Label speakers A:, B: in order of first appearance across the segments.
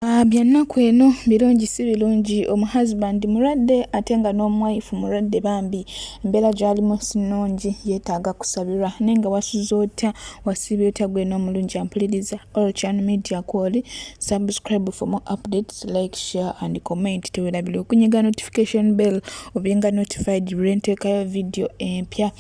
A: Ah, byannaku eno birungi si birungi omuhusband mulwadde ate nga n'omuwayifu mulwadde bambi embeera gyalimu sinungi yeetaaga kusabirwa naye nga wasuza otya wasiibye otya gwe n'omulungi ampuliriza olchan media kwoli subscribe for more updates like share and comment tewerabira okunyiga notification bell obyenga notified lwenteekayo vidiyo empya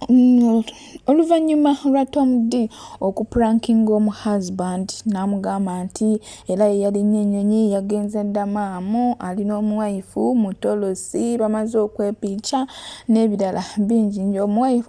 A: mm, oluvannyuma lwa tom d okuprankinga omu husband n'amugamba nti era ye yalinnya ennyonyi yagenze ddamaamu alina omuwayifu mutolosi bamaze okwepinca n'ebirala bingi nyo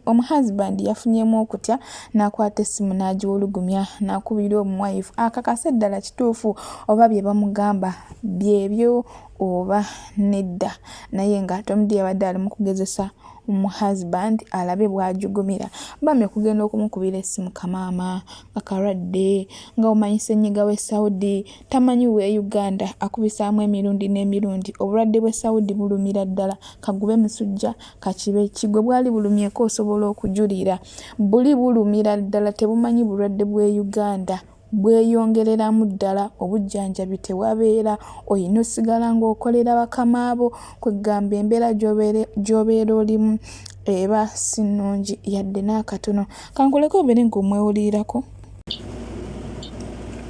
A: omu husband yafunyemu okutya n'akwata essimu n'agiwulugumya n'akubira omuwayifu akakase ddala kituufu oba bye bamugamba byebyo oba nedda naye nga tom d yabadde ali mu kugezesa omu husband alabe bwajugumira bambi okugenda okumukubira essimu kamaama nga kalwadde nga omanyi senyiga we saudi tamanyi we uganda akubisaamu emirundi n'emirundi obulwadde bwe saudi bulumira ddala kagube musujja kakibe kigwe bwali bulumyeko osobola okujulira buli bulumira ddala tebumanyi bulwadde bwe uganda bweyongereramu ddala obujjanjabi tewabeera olina osigala ng'okolera bakama bo kwegamba embeera gy'obeera olimu eba si nnungi yadde n'akatono. Kankuleke obeere ng'omwewulirirako.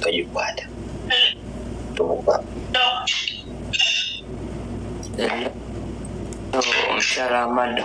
B: Togikwata. Tomukuba. Omukyala Amado.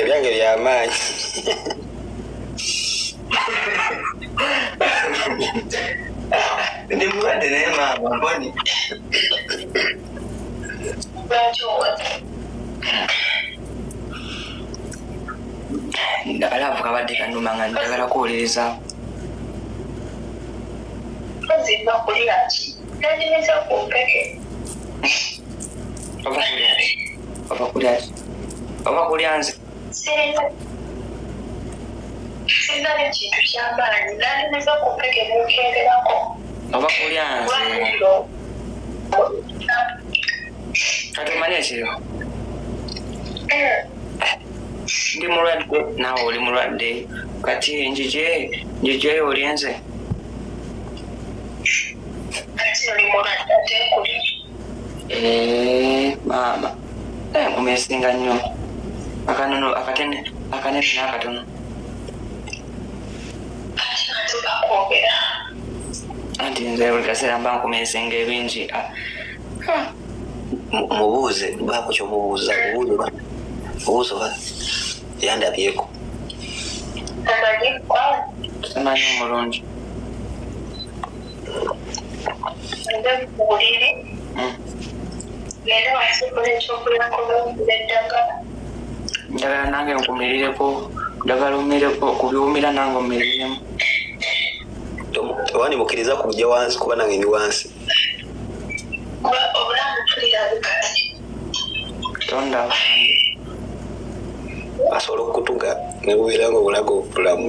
B: ebyange byamaanyi ndi mulwadde naye maama mboni abalaavu kabadde kanuma nga njagala kuwuliriza oba kulya nze
C: sirina nekintu kyamaanyi
B: nandimiza okumpeke mukenderako oba kulyanze kati omanya ekiro ndi mulwadde naawe oli mulwadde kati njije njijeyo olyenze Eh, maama eh, mumesinga nnyo akanono akatene akanene n'akatono anti nze buli kaseera mba nkumesinga ebingi ah, ah. mubuuze baako kyomubuuza obuulira obuuza oba yandabyeko amanyi omulungi njagala nange nkumirireko njagala omireko kubiwumira nange omiriremu wani mukiriza kujja wansi kuba nange ndi wansi tonda asobola okutuga nebubeera nga obulaga obulamu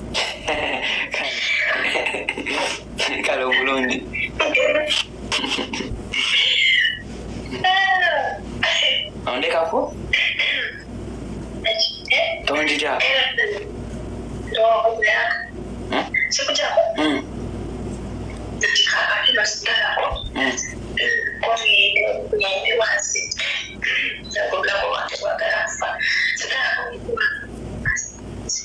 B: kale obulungi ondekako tonjija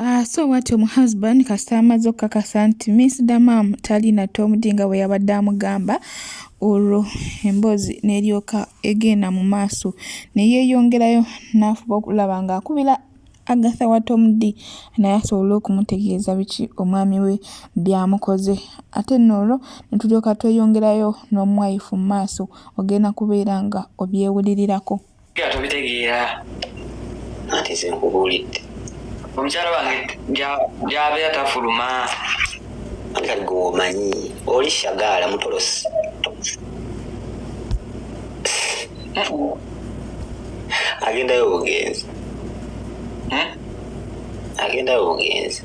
A: Uh, so what your husband kasita amaze okukakasa nti miss the mam talina tomudi nga bwe yabadde amugamba olwo emboozi neryoka egenda mu maaso neyeyongerayo nafuba okulaba nga akubira agatha wa tomudi naye asobole okumutegeeza biki omwami we byamukoze ate noolwo netulyoka tweyongerayo n'omwayifu mu maaso ogenda kubeera nga obyewulirirako nga tobitegeera
D: anti ze nkubuulidde omukyala
B: wange gyabeera tafuluma nga
D: gwe omanyi oli shagaala mutolosi agendayo obugenzi hmm? agendayo
B: obugenzi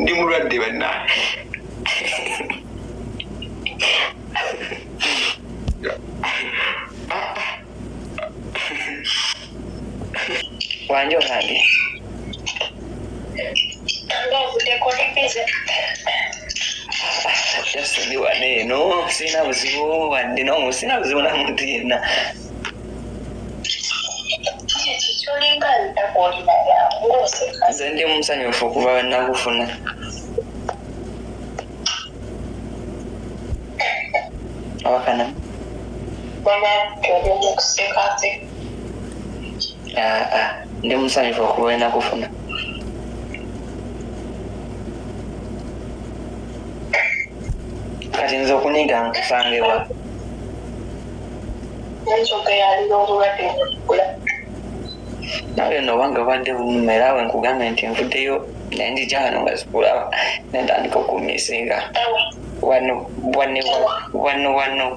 B: ndi mulwadde banna wanje olange jasoni wane eno sirina buzibu wadde nomu sirina buzibu na muntu yenna nze ndi musanyufu okuva wenakufuna awakana ah, ah. ndi musanyufu okuba olina kufuna kati nze okuniga nkusangewa nawe no wange obadde bunuma era we nkugambye nti nvuddeyo naye ndi gyano nga zikulaba nentandika okumisinga wano wano wano wano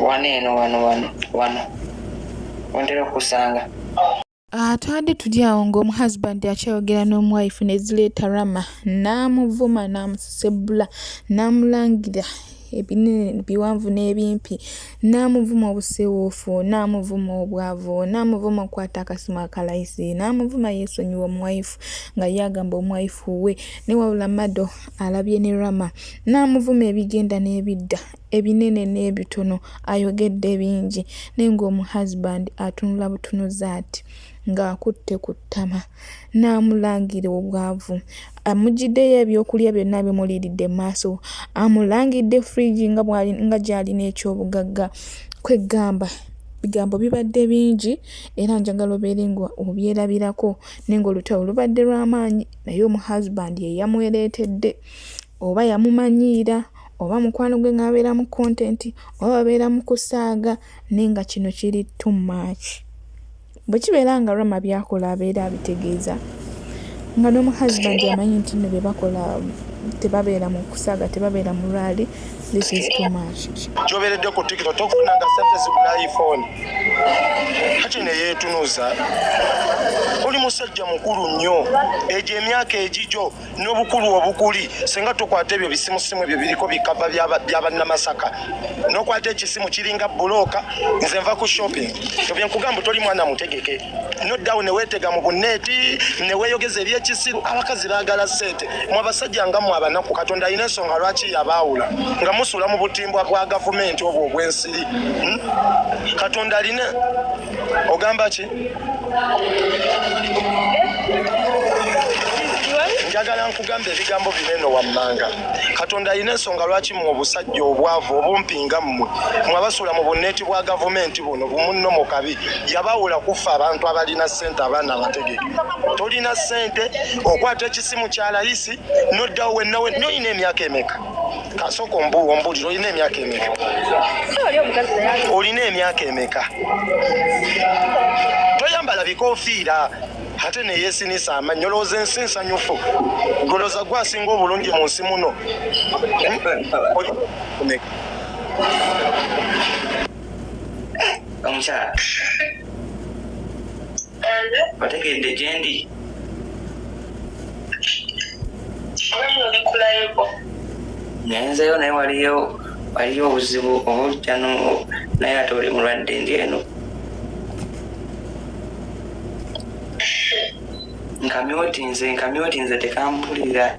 B: wano eno wano wano wano wantera okusanga atwade
A: ah, tuli awo ng'omuhusband akyayogera n'omuwife ne zireeta rama n'amuvuma n'amusesebbula n'amulangira ebinene biwanvu n'ebimpi N'amuvuma obusiiwuufu, n'amuvuma obwavu, n'amuvuma okukwata akasimu akalayisi, n'amuvuma yeesonyiwe omuwayifu nga ye agamba omuwayifu we ne wabula Mado alabye ne Rama, n'amuvuma ebigenda n'ebidda, ebinene n'ebitono, ayogedde bingi naye ng'omu husband atunula butunuzi ati ng'akutte ku ttama. n'amulangira obwavu amuggyiddeyo ebyokulya byonna bimuliiridde mu maaso amulangidde fridge nga bwali nga gy'alina ekyobugagga kweggamba bigambo bibadde bingi era njagala obeere nga obyerabirako naye ng'olutalo lubadde lw'amaanyi naye omu husband ye yamwereetedde oba yamumanyiira oba mukwano gwe ng'abeera mu kontenti oba babeera mu kusaaga naye nga kino kiri too much. Bwe kibeera nga Rama by'akola abeera abitegeeza nga n'omukazi bandi amanyi nti nno bye bakola tebabeera mu kusaaga tebabeera mu lwali this is too much gyoberedde ku tikito
E: tofunanga sente zigula iphone kati neyetunuza oli musajja mukulu nnyo egyo emyaka egijo n'obukulu obukuli singa tukwata ebyo bisimusimu ebyo biriko bikava byabannamasaka nokwata ekisimu kiringa bulooka nze nva ku shopping ebyenkugamba toli mwana mutegeke noddawo newetega mu bunneeti neweyogeza ebyekisiru abakazi bagala sente mwe abasajja nga mwe abanaku katonda alina ensonga lwaki yabaawula nga musula mu butimbwa bwa gavumenti obwo obwensiri hmm? katonda alina ogamba ki njagala nkugamba ebigambo bino eno wammanga katonda alina ensonga lwaki mwe obusajja obwavu obumpinga mmwe mwe abasuula mu bunneeti bwa gavumenti buno bumunno mu kabi yabawula kuffa abantu abalina ssente abaana abategeke tolina ssente okwata ekisimu kya layisi noddawo wennawe noyina emyaka emeka kasooka ombuulira olina emyaka emeka olina emyaka emeka toyambala bikofiira ate neyesinisa amanyi olowooza ensi nsanyufu goloza gwe asinga obulungi mu nsi muno omukyala
B: bategedde gyendi nayenzeyo naye waliyo waliyo obuzibu obujja naye ate oli mulwadde ndi eno nkamyotinze nkamyotinze tekampulira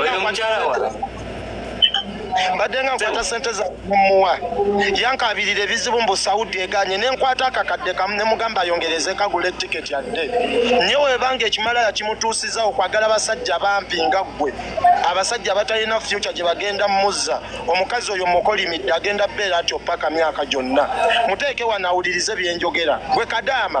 B: oyo mukyala wa mbadde nga nkwata sente zamuwa yankabirira ebizibu mbu saudi eganye nenkwata akakadde kamu nemugamba ayongereze kagula etiketi adde nye webanga ekimala yakimutuusiza okwagala abasajja bampi nga ggwe abasajja abatalina fyuca gye bagenda mumuzza omukazi oyo mukolimidde agenda beera atyo paka myaka gyonna muteeke wanawulirize byenjogera gwe kadaama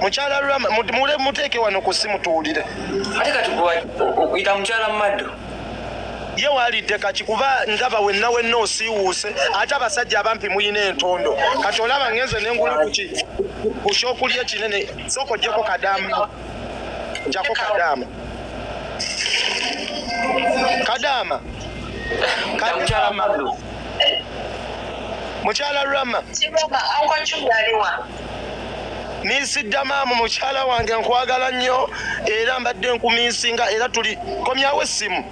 B: mukyala
E: rama mule muteeke wano ku simu tuwulire ate kati
B: okuyita mukyala mumaddo ye
E: walidde kaki kuba ndaba wenna wenna osiiwuuse ate abasajja abampi muyina entondo kati olaba ngenze nengula kuki kukyokulya ekinene sooka ojjeko kadamu njako kadaama kadaama
B: kadaama
E: mukyala rama minsi ddamaamu mukyala wange nkwagala nnyo era mbadde nkuminsinga era tuli komyawo essimu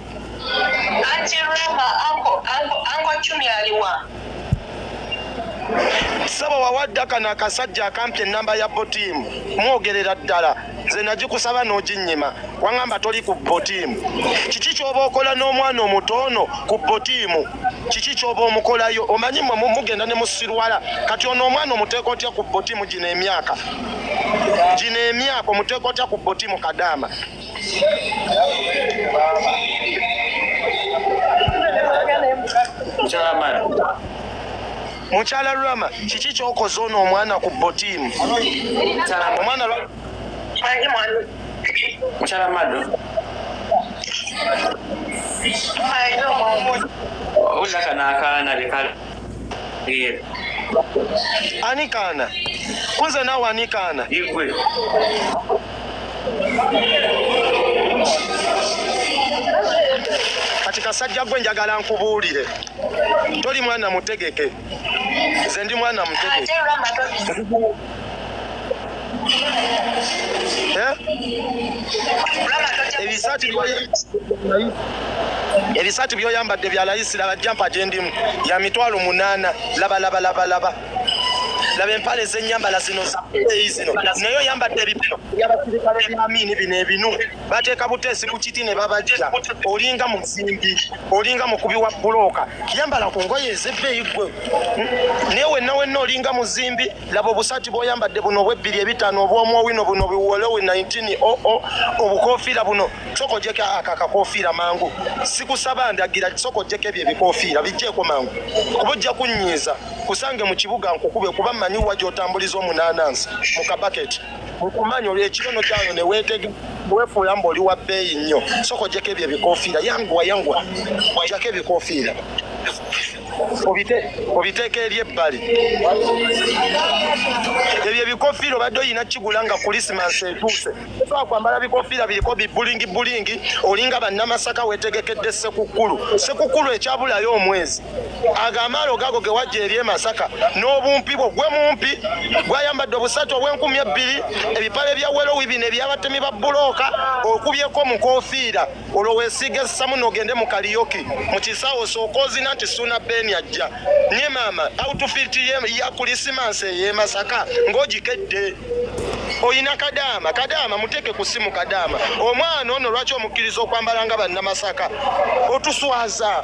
E: saba wawadde akano akasajja akampi enamba ya botiimu mwogerera ddala nze nagikusaba n'oginnyima wangamba toli ku botiimu kiki ky'oba okola n'omwana omuto ono ku botiimu kiki kyoba omukolayo omanyi mwe mugenda ne musirwala kati ono omwana omuteeka otya ku botimu gino emyaka gino emyaka omuteeka otya ku botimu kadaama kyamala mukyala rama kiki kyokoze ono omwana ku botiimu omwana
B: mukyala mado owulira kano akaana bekala
E: ani kaana kunze naawe ani kaana igwe kati kasajja gwe njagala nkubuulire toli mwana mutegeke nze ndi mwana mutete eh? ebisaati byoyambadde bya layisi laba jampa gyendimu ya mitwalo munaana labalabalabalaba laba empale zenyambala zino zaeyi zino naye oyambadde ebipino byabasirikale byamiini bino ebinu bateeka buteesi ku kiti ne babajja olinga muzimbi olinga mukubi wa bulooka yambala ku ngoye ezebbeeyi gwe naye wenna wenna olinga muzimbi laba obusaati bwoyambadde buno obwebbiri ebitaano obwomwowino buno biwolowe 19 oo obukofiira buno soka ojeko ako akakofiira mangu sikusaba ndagira soka ojeko ebyo ebikofiira bijjeeko mangu kuba ojja kunnyiiza kusange mu kibuga nkukube kuba mmanyi wa gyotambuliza omunaanansi mu kabaketi okumanya olwekirono kyayo newetege wefuula mbu oli wa bbeeyi nnyo soko ojjeko ebyo ebikofiira yanguwa yanguwa ojjako ebikofiira obiteeka eri ebbali ebyo ebikofiira obadde olina kigula nga kulisimansi etuuse osobola kwambala bikofiira biriko bibulingi bulingi olinga bannamasaka wetegekedde sekukkulu sekukkulu ekyabulayo omwezi ago amaalo gago ge wajja eri e masaka n'obumpi bwo gwe mumpi gwayambadde obusatu obw'enkumi ebbiri ebipale bya welowi bino ebyabatemi ba bulooka okubyeko mukofiira olwo weesiiga essamu n'ogende mu kaliyoki mu kisaawo osooka ozina nti suuna beeni ajja nye maama outfiti ya kulisimansi ey'e masaka ng'ogikedde oyina kadaama kadaama muteeke ku simu kadaama omwana ono lwaki omukkiriza okwambala nga bannamasaka otuswaza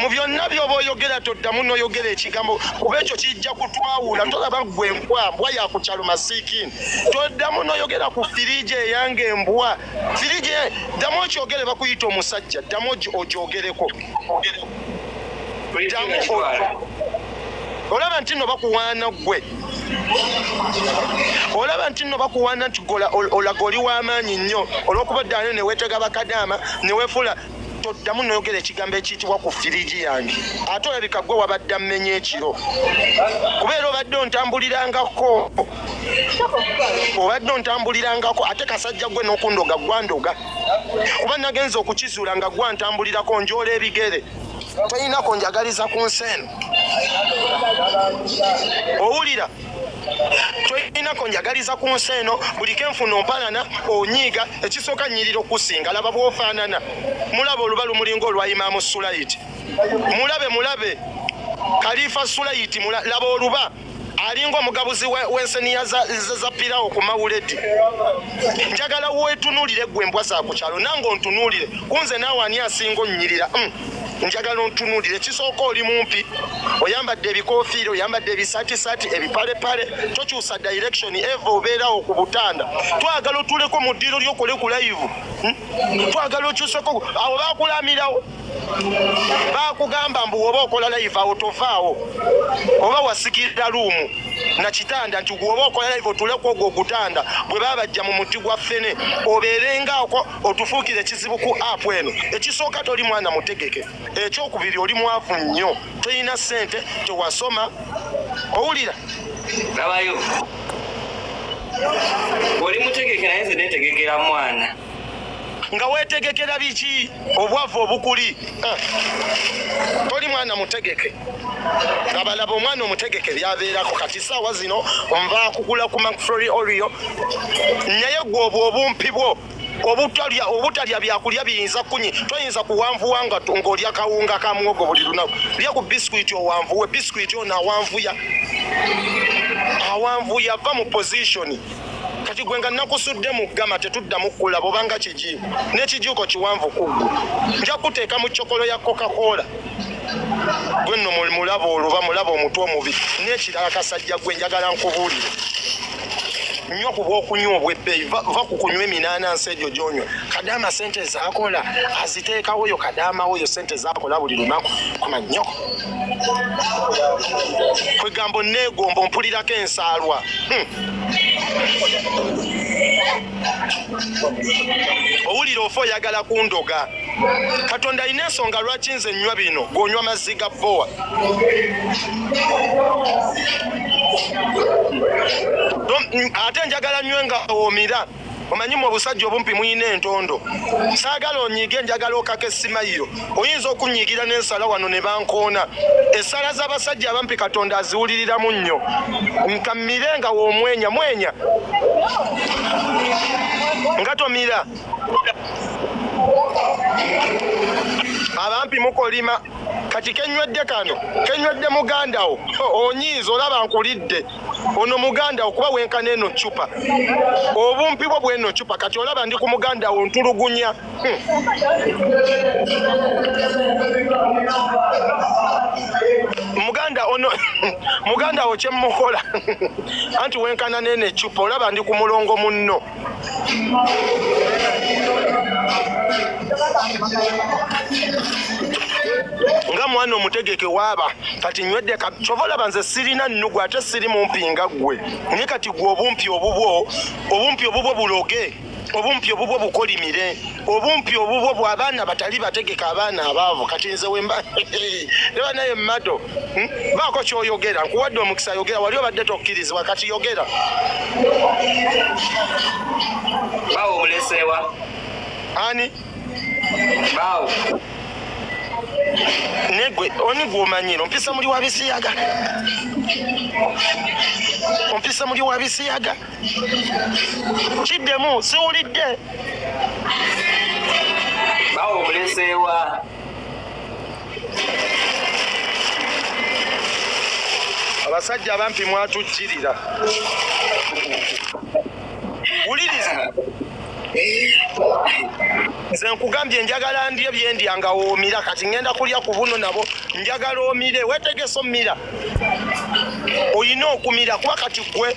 E: mu byonna byoba oyogera toddamu noyogera ekigambo kuba ekyo kijja kutwawula tolaba gwe embwa mbwa yakukyalo masikin toddamu noyogera ku firiji eyange embwa firiji ddamu okyogere bakuyita omusajja ddamu ogyogereko olaba nti no bakuwaana gwe olaba nti no bakuwaana nti olaga oli w'amaanyi nnyo olw'okuba ddaano neweetega bakadaama newefuula toddamu noyogera ekigambo ekiyitibwa ku firiji yange ate olabika gwe wabadde ammenya ekiro kubeera obadde ontambulirangako obadde ontambulirangako ate kasajja gwe nokundoga gwandoga kuba nagenza okukizuula nga gwantambulirako njoola ebigere toyinako njagaliza ku nsi eno owulira kyoyinako njagaliza ku nsi eno buli kenfuna ompalana onyiiga ekisooka nyirira okusinga laba bwofaanana mulabe oluba lumulinga olwa imaamu sulayiti mulabe mulabe kalifa sulayiti laba oluba alinga omugabuzi wenseniya za pirawo ku mawuledi njagala wetunulire gwe embwa zakukyalo nange ontunulire kunze naawe ani asinga onyirira mm. njagala ontunuulira ekisooka oli mumpi oyambadde ebikofiira oyambadde ebisatisati ebipalepale tokyusa direction eva obeerawo ku butanda twagala otuleko mu ddiiro lyokole ku layivu hmm? twagala okyuseko awo bakulamirawo bakugamba mbu woba okola layivu awo tovaawo oba wasikirira luumu na kitanda nti gwoba okola layivu otuleko ogwo ogutanda bwe babajja mu muti gwa ffene obeerengaoko otufuukira ekizibu ku apu eno ekisooka toli mwana mutegeke ekyokubiri oli mwavu nnyo tolina ssente tewasoma owulira labayo
F: oli mutegeke naye nze netegekera mwana nga
E: wetegekera biki obwavu obukuli Ah, toli mwana mutegeke labalaba omwana omutegeke byabeerako kati saawa zino nva kugula ku macflory orio naye gwe obwo obumpi bwo obutalya obutalya byakulya biyinza kunyi toyinza kuwanvuwa nga ng'olya kawunga ka muwogo buli lunaku lya ku bisikuiti owanvuwe bisikuiti ono awanvuya awanvuya va mu pozishoni kati gwe nga nakusudde mu ggama tetuddamu kulaba obanga kiki n'ekijuuko kiwanvu kuggwe nja kuteeka mu cokolo ya coca-cola gwe nno mulaba oluba mulaba omutwe omubi n'ekirala kasajja gwe njagala nkubuulire nnyo ku bwokunywa obwebbeeyi va ku kunywa eminaana nsi egyo gyonywa kadaama sente zaakola aziteekawo yo kadaama wo yo sente zaakola buli lunaku kuma nnyoko kwegambo neegombo mpulirako ensaalwa hmm. owulira ofa oyagala kundoga katonda alina ensonga lwaki nze nywa bino gonywa mazzi ga bowa ate njagala nywe nga omira omanyi mu obusajja obumpi muyina entondo saagala onyiige njagala okaka esimayiro oyinza okunyiigira n'ensala wano ne bankoona essala z'abasajja abampi katonda aziwuliriramu nnyo nkamire nga womwenya mwenya nga tomira abampi mukolima kati kenywedde kano kenywedde mugandawo onyiiza olaba nkulidde ono muganda okuba wenkana eno cupa obumpi bwo bweno cupa kati olaba ndi ku muganda wo ntulugunya hmm. muganda ono muganda wo kyemukola anti wenkana nene cupa olaba ndi ku mulongo munno nga mwana omutegeke waaba kati nywedde kyova olaba nze sirina nnugu ate siri mumpi nga ggwe naye kati gwe obumpi obubwo obumpi obubwo buloge obumpi obubwo bukolimire obumpi obubwo bwabaana batali bategeka abaana abaavu kati nze wemba ne banaye mado hmm? baako kyoyogera nkuwadde omukisa yogera wali obadde tokkirizibwa kati yogera
F: bawo obuleseewa ani bawo
E: negwe oni gwomanyira ompisa muli wa bisiyaga ompisa muli wa bisiyaga kiddemu siwulidde
F: bawo omuleseewa
E: abasajja abampi mwatukkirira wuliriza nze nkugambye njagala ndye byendya nga woomira kati ŋenda kulya ku buno nabo njagala omire wetegese omira olina okumira kuba kati gwe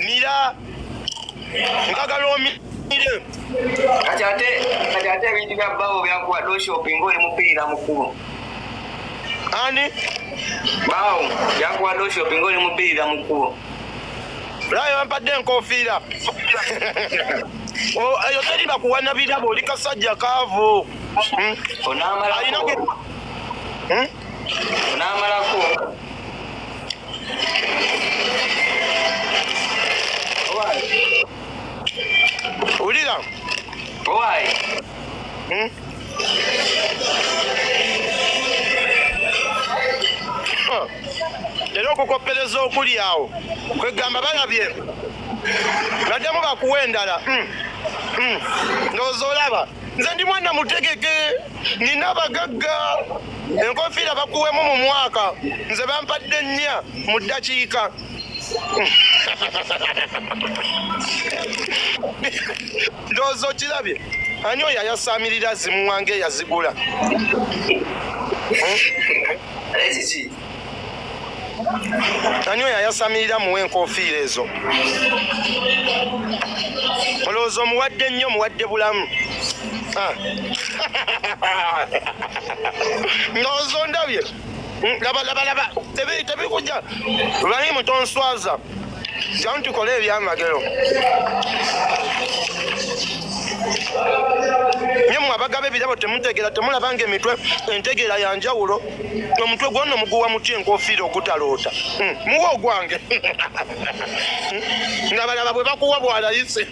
E: mira njagala omire
F: kati ate ebintu bya babo byakuwa doshopi ngaoli mupiira mukulu
E: ani
F: bawo yakuwadde oshopi nga oli mubbirira mu kkubo
E: laayo bampadde enkofiira oh, eyo teri bakuwana birabo oli kasajja kaavu hmm? onamalako hmm?
F: onamalako
E: wulira hmm? era okukoppereza okuli awo kwegamba balabye baddemu bakuwa endala hmm. Hmm. ndowooza olaba nze ndi mwana mutegeke nina abagagga enkofiira bakuwemu mu mwaka nze bampadde nnya mu ddakiika ndowooza okirabye ani oyo ayasaamirira zimuwanga eyazigula ani oyo ayasamirira muwa enkofiira ezo olowooza omuwadde nnyo omuwadde bulamu ah. ndowooza ondabye labalaba hmm, tebikuja ibrahimu tonswaza Jangu tukole ebyamagero. Nye mwe abagaba ebirabo temutegeera temulaba nga emitwe entegeera ya njawulo omutwe gwonna omuguwa muti enkofiira ogutaloota hmm, muwa ogwange hmm, nga balaba bwe bakuwa bwalayisi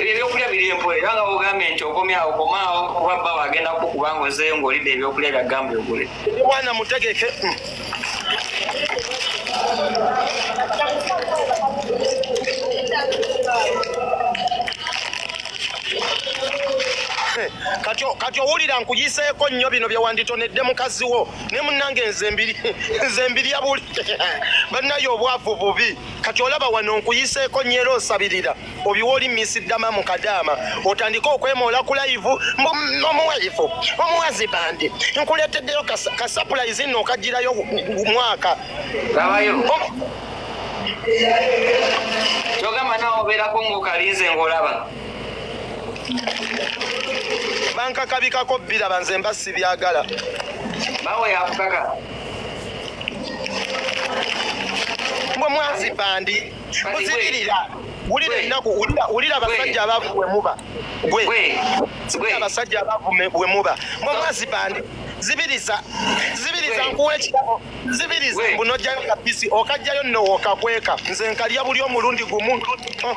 E: ebyo ebyokulya
F: biri empola era nga bogambye nti okomyawo komaawo kuba bba wagenda kukuba ngaozeeyo ngaolidde ebyokulya byagambye ogule mwana mutegeke
E: kati owulira nkuyiseeko nnyo bino bye wanditonedde mukazi wo ne munange nze mbiri nze mbiri abuli banaye obwavu bubi kati olaba wano nkuyiseeko nyera osabirira obiwa oli misiddama mu kadaama otandike okwemoola ku layivu omuwayifu omuwazi bandi nkuleeteddeyo kasapulayizi nno okagirayo mwaka kyogamba nawe
F: obeerako ngaokalinze ngaolaba
E: bankakabikako biraba nze mba sibyagala bawe
F: yakukaka
E: mwe mwazi bandi muzibirira wulira ennaku wulira abasajja abavu bwe muba gwe abasajja abavu bwe muba mwe mwazi bandi zibiriza zibiriza nkuwa ekirabo zibiriza mbu nojjayo kapisi okajjayo nno wokakweka nze nkalya buli omulundi gumu oh.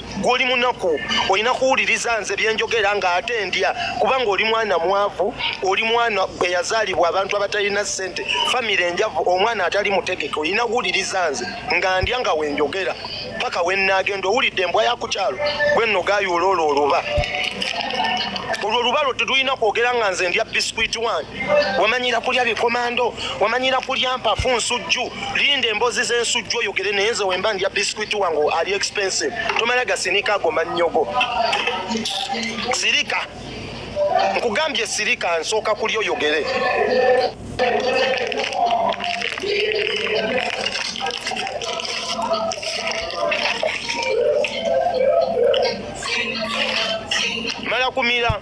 E: gwoli munaku olina kuwuliriza nze byenjogera nga ate ndya kubanga oli mwana mwavu oli mwana eyazaalibwa abantu abatalina ssente famiry enjavu omwana atali mutegeke olina kuwuliriza nze nga ndya nga wenjogera paka wenagenda owulidde embwa yakukyalo gwenno gayuula olwo oluba olwo olubalo tetulina kwogera nga nze ndya biscuit one wamanyira kulya bikomando wamanyira kulya mpafu nsujju linda embozi zensujju oyogere naye nze wemba ndya biscuit wange ali expensive tomala gasinika ago mannyogo sirika nkugambye sirika nsooka kulya oyogere mala kumira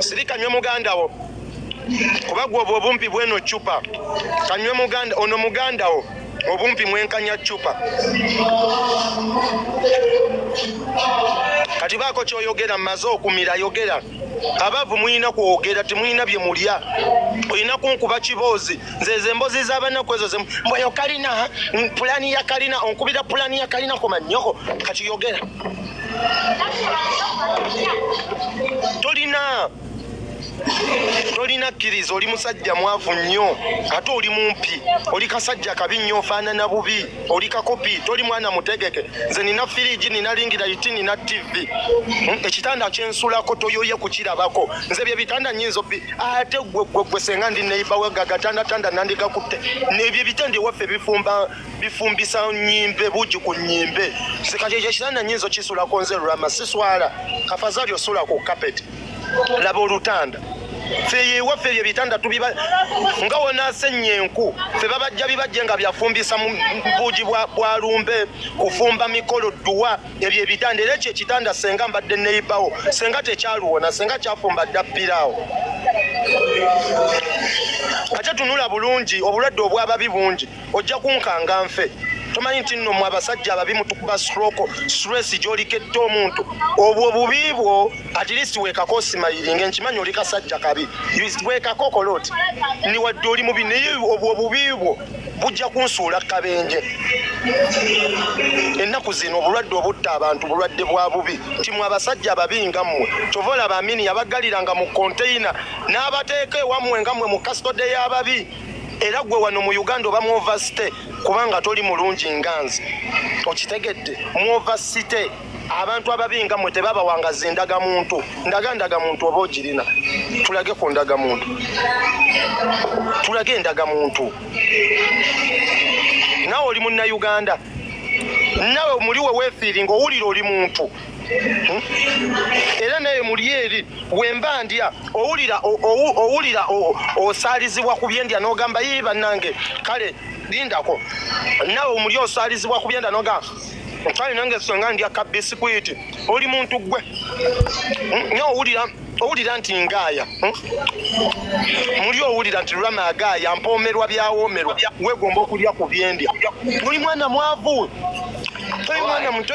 E: sirika nywe muganda wo kuba gwe obwo obumpi bweno cupa kanywe muganda ono muganda wo obumpi mwenkanya cupa kati baako kyoyogera maze okumira yogera abavu mulina kwogera temulina bye mulya olina kunkuba kiboozi nzeze embozi zabanaku ezo zemu mbweyo kalina pulani ya kalina onkubira pulani ya kalina komanyoko kati yogera tolina tolina kkiriza oli musajja mwavu nnyo ate oli mumpi oli kasajja kabi nnyo ofaanana bubi oli kakopi toli mwana mutegeke nze nina firiji nina lingira iti nina tivi hmm, ekitanda kyensulako toyoye kukirabako nze bye bitanda nyinza obi ate gwe gwe gwe senga ndi neibawe gagatandatanda nandigakutte nebyo ebitanda ewaffe bifumba bifumbisa nyimbe buji ku nyimbe sikajejeshana nyinzo kisula konze rama siswala afadhali osula ku carpet laba olutanda feye waffe ebyo ebitanda tubiba nga wonasennya enku fe babajja bibajje nga byafumbisa buugi bwa lumbe kufumba mikolo dduwa ebyo ebitanda era ekyo ekitanda senga mbadde neyibawo senga tekyaluwona senga kyafumba dda ppiraawo ate tunula bulungi obulwadde obwababi bungi ojja kunkanga nfe tomanyi nti nno mwe abasajja ababi mutukuba stroko stress gyoliketta omuntu obwo bubi bwo at least wekako osimayiringa nkimanyi oli kasajja kabi wekako okola oti ni wadde oli mubi naye obwo bubi bwo bujja kunsuula kabenje ennaku zino obulwadde obutta abantu bulwadde bwa bubi nti mwe abasajja ababi nga mmwe kyova olaba amini yabagaliranga mu konteyina n'abateeka ewammwe nga mmwe mu kasitode y'ababi era gwe wano mu uganda oba muovasite kubanga toli mulungi nganzi okitegedde muovasite abantu ababi nga mwe tebabawangaza endagamuntu ndaga ndagamuntu oba ogirina tulage ku ndagamuntu tulage endagamuntu nawe oli munnauganda nawe muli we wefiiri ngaowulira oli muntu era naye muli eri wemba ndya owulira owulira osaalizibwa ku byendya n'ogamba yii bannange kale lindako nawe omuli osaalizibwa ku byenda n'ogamba kale nange senga ndya ka bisikwiti oli muntu gwe hmm? naye owulira owulira nti ngaaya hmm? muli owulira nti lulama agaaya mpoomerwa byawoomerwa wegomba okulya ku byendya muli mwana mwavu toli mwana muto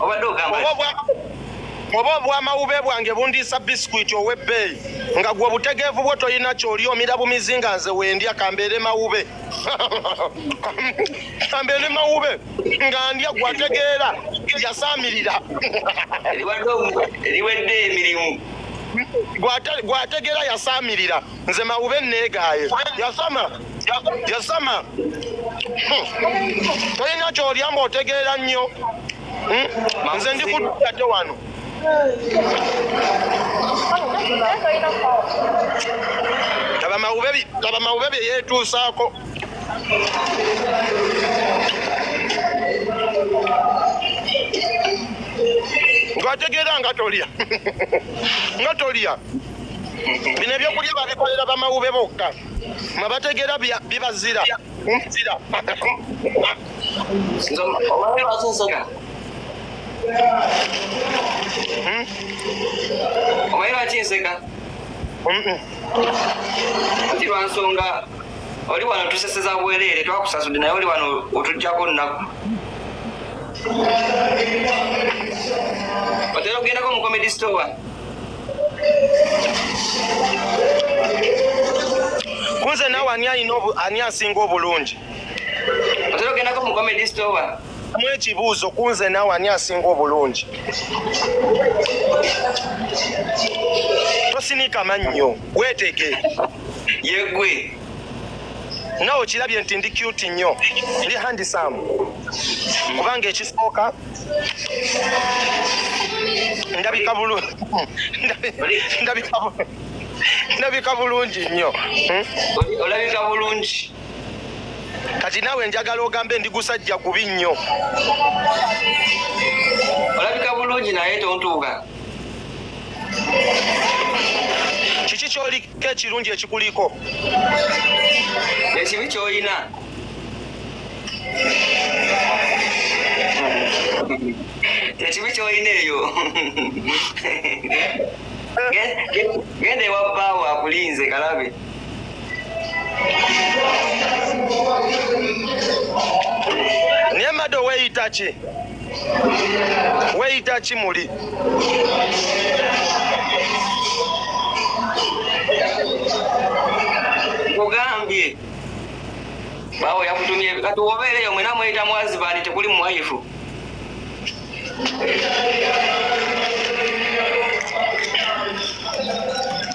F: obadde ogamba
E: oba obwamawube bwange bundiisa bisikwiti ow'ebbeeyi nga gwe obutegeevu bwo tolina kyoli omira bumizi nga nze wendya kambeere mawube kambeere mawube nga ndya gwe ategeera yasaamirira
F: eriwedde emirimu
E: gwategeera yasaamirira nze mawube neegaaye yasama yasama hmm. tolina kyolya mba otegeera nnyo hmm. nze ndi kudate wano laba mawube bye yeetuusaako ngategeera nga tolya nga tolya bino ebyokulya babikolera bamawube bokka mwe bategeera bibazira
F: omanyi lwaki nseka ti lwansonga oli wano tuseseza bwereere twakusasudde naye oli wano otujjako nnaku otera okugendako mu comedy store
E: kunze nawe ani alina ani asinga obulungi
F: otera ogendako mu comedy store mu ekibuuzo
E: kunze nawe ani asinga obulungi tosinika mannyo weetege yegwe nawe okirabye nti ndi cute nnyo ndi handisam kubanga ekisooka ndabika bulungi ndabika bulungi nnyo hmm? olabika
F: bulungi
E: kati naawe njagala ogambe ndi gusajja gubi nnyo
F: olabika bulungi naye tontuuga
E: kiki kyoli Kekirungi ekikuliko.
F: Ekibi kyoyina. Ekibi kyoyina eyo. Gende wa bawo akulinze kalabe.
E: Niye mado weyita ki? weyita kimuli
F: kugambye bawo yakutumye kati wobeereyo mwena mweyita mwazibani tekuli muwayifu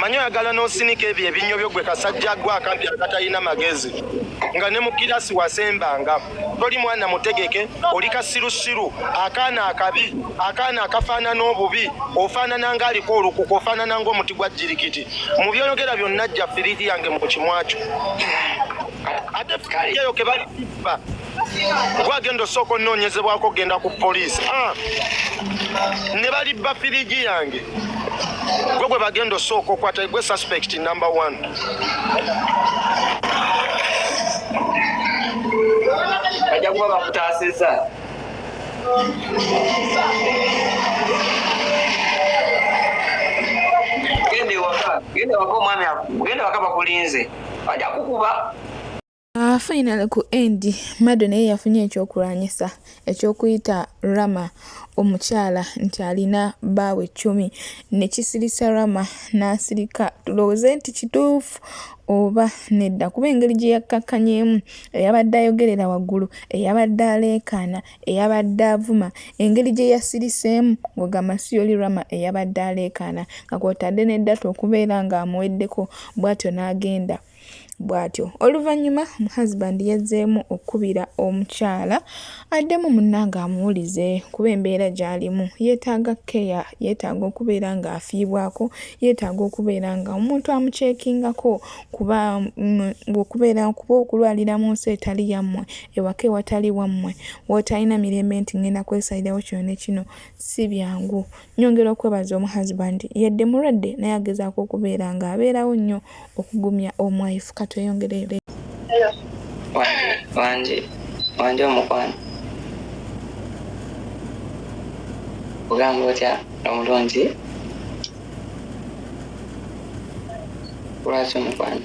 E: manyo oyagala n'osinika ebyo ebinnyo byo gwe kasajja gwe akampi akatalina magezi nga ne mu kirasi wasembanga toli mwana mutegeke oli kasirusiru akaana akabi akaana akafaanana obubi ofaanana nga aliko olukuku ofaanana ng'omuti gwa jirikiti mu byonogera byonna jja firiidi yange mu kimwakyo ate firiidi eyo kebalikuba gwagenda osooka onoonyezebwako okugenda ku poliisi ah. ne balibba firigi yange gwe gwe bagenda osooka okwata gwe suspect number one
F: ajja kuba bakutaasiza genda ewaka genda ewaka omwami genda ewaka bakulinze ajja kukuba Uh, finally
A: ku end mado naye yafunye ekyokulwanyisa ekyokuyita rama omukyala nti alina baawe cumi nekisirisa rama n'asirika tulowooze nti kituufu oba nedda kuba engeri gye yakkakkanyeemu eyabadde ayogerera waggulu eyabadde aleekaana eyabadde avuma engeri gye yasiriseemu ng'ogamba si yoli rama eyabadde aleekaana nga kwotadde ne data okubeera ng'amuweddeko bw'atyo n'agenda bw'atyo oluvannyuma husband yazzeemu okukubira omukyala addemu munnange amuwulize kuba embeera gy'alimu yeetaaga keya yeetaaga okubeera ng'afiibwako yeetaaga okubeera nga omuntu amukyekingako kuba mm, okubeera kuba okulwalira mu nsi etali yammwe ewaka ewatali wammwe wootalina mirembe nti ngenda kwesalirawo kino ne kino si byangu Nyongera okwebaza omu husband yadde mulwadde naye agezaako okubeera nga abeerawo nnyo okugumya omu wife katweyongerere. Hello.
F: Wanje wanje omukwano ogamba otya omulungi lwaki omukwano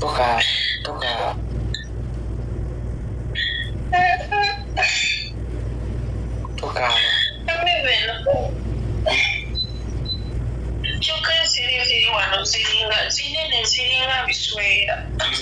F: Toka, toka.
C: Toka. Kyokka ensiri ziri wano ziringa zinene ziringa biswera.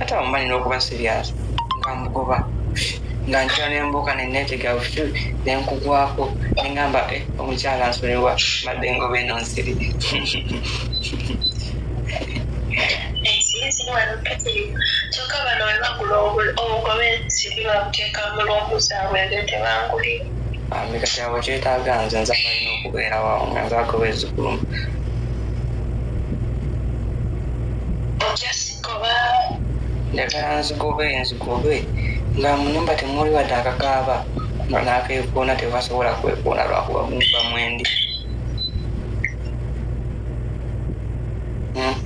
C: ate
F: awo mba nina okuba serious nga mugoba nga nkira nembuuka neneetega butu nenkugwako nengamba eh, omukyala nsonyiwa madde ngoba eno nsiri kyokka
C: bano webagula obugoba ensiri babuteeka mu lwomuzabwe nge tebangulira ameka kyabo
F: kyetaaga nze nze abalina okubeera wawo nga nze agoba ezikulumu
C: njagala
F: nzigobe nzigobe nga munyumba temuli wadde akakaaba nakekoona tebasobola kwekoona lwakuba munyumba mwendi hmm?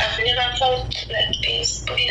F: I've
C: never felt like this, but it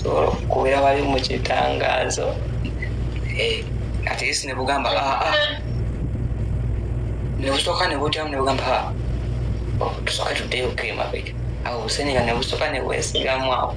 F: sobola okukubeera wali mu kitangaazo eh, at least ne bugamba aa ah, ah. ne busooka ne butyamu ne bugamba ah, oh, tusooke tuddeyo kemabega awo busenera ne busooka ne bwesigamu awo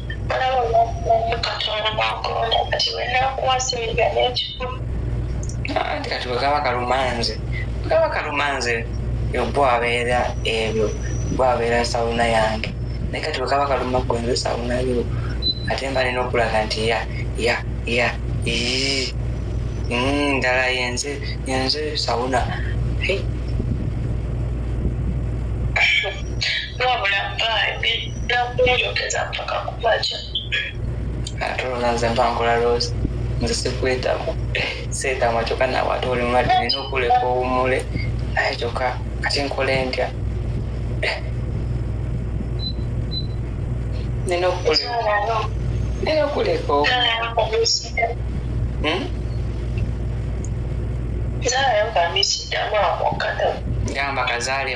F: anti kati bwekaba kalumanze bwekaba kalumanze bwo abeera ebyo bwo abeera sawuna yange naye kati bwekaba kaluma gwe nze sawuna yo ate mba nina okulaga nti ya ya ya ndala mm, yenze yenze sawuna
C: wabula
F: baabi nakumuyogeza mpaka kubaja ate olwo nze mpangula rose nze sikwetamu seetamu kyoka nawe ate oli mulwadde nina okuleka owumule naye kyoka kati nkole ntya nina okuleka
C: hmm? gamba kazaale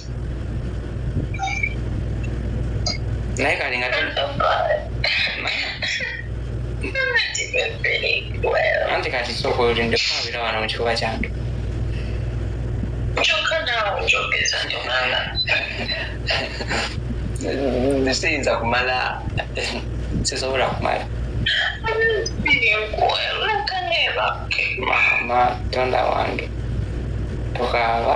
F: naye kale nga anti kati sooka olinde kwabira wano mu kikuba kyantu
C: kyokka naawe njogeza nti omwana
F: siyinza kumala sisobola kumala mama tonda wange tokaaba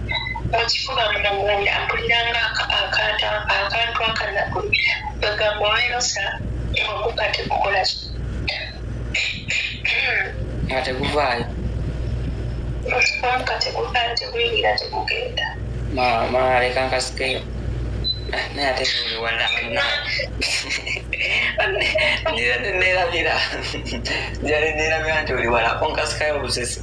C: mukifuba munda mpuliranga akantu akanaku bagamba olwerosa oguka tegukola
F: nga teguvaayo omuka
C: teguvaayo teguyingira tegugenda mama
F: leka nkasikeyo ah, naye ate wala nera nerabira jali nerabira nti oli wala onkasikayo obusesi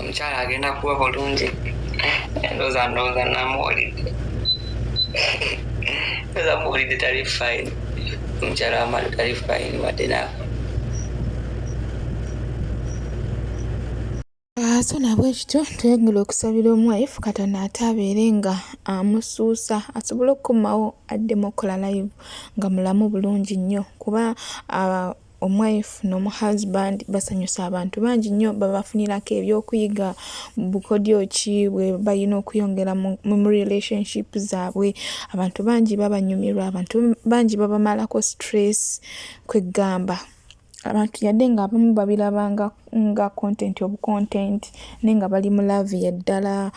F: omukyala agenda kuba bulungi ndoza ndoza namuwulidde ndoza muwulidde tali fine omukyala wamala tali fine wadde nako
A: so nabwe kityo twegula okusabira omwaifu katonda ate abeere nga amusuusa asobole okukomawo addemu okukola live nga mulamu bulungi nnyo kuba omwife nomu husband basanyusa abantu bangi nnyo babafunirako ebyokuyiga bukodyo ki bwe balina okuyongera mu relationship zaabwe abantu bangi babanyumirwa abantu bangi babamalako stress kweggamba abantu yadde nga abamu babirabanga nga content obucontent naye nga bali mu laavu yaddala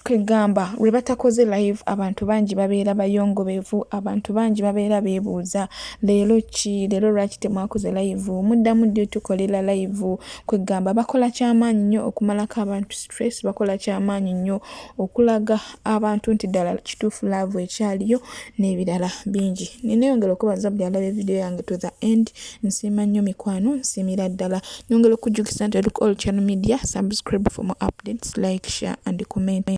A: kwegamba lwebatakoze live abantu bangi babeera bayongobevu abantu bangi babeera bebuuza leero ki leero lwaki temwakoze live muddamu ddi otukolera live kwegamba bakola kyamaanyi nnyo okumalako abantu stress bakola kyamaanyi nnyo okulaga abantu nti ddala kituufu laavu ekyaliyo n'ebirala bingi nineyongera okubaza buli alaba evidiyo yange to the end Nsiima nnyo mikwano, nsiimira ddala. Nyongera okujjukisa nti Look All Channel Media, subscribe for more updates, like, share and comment.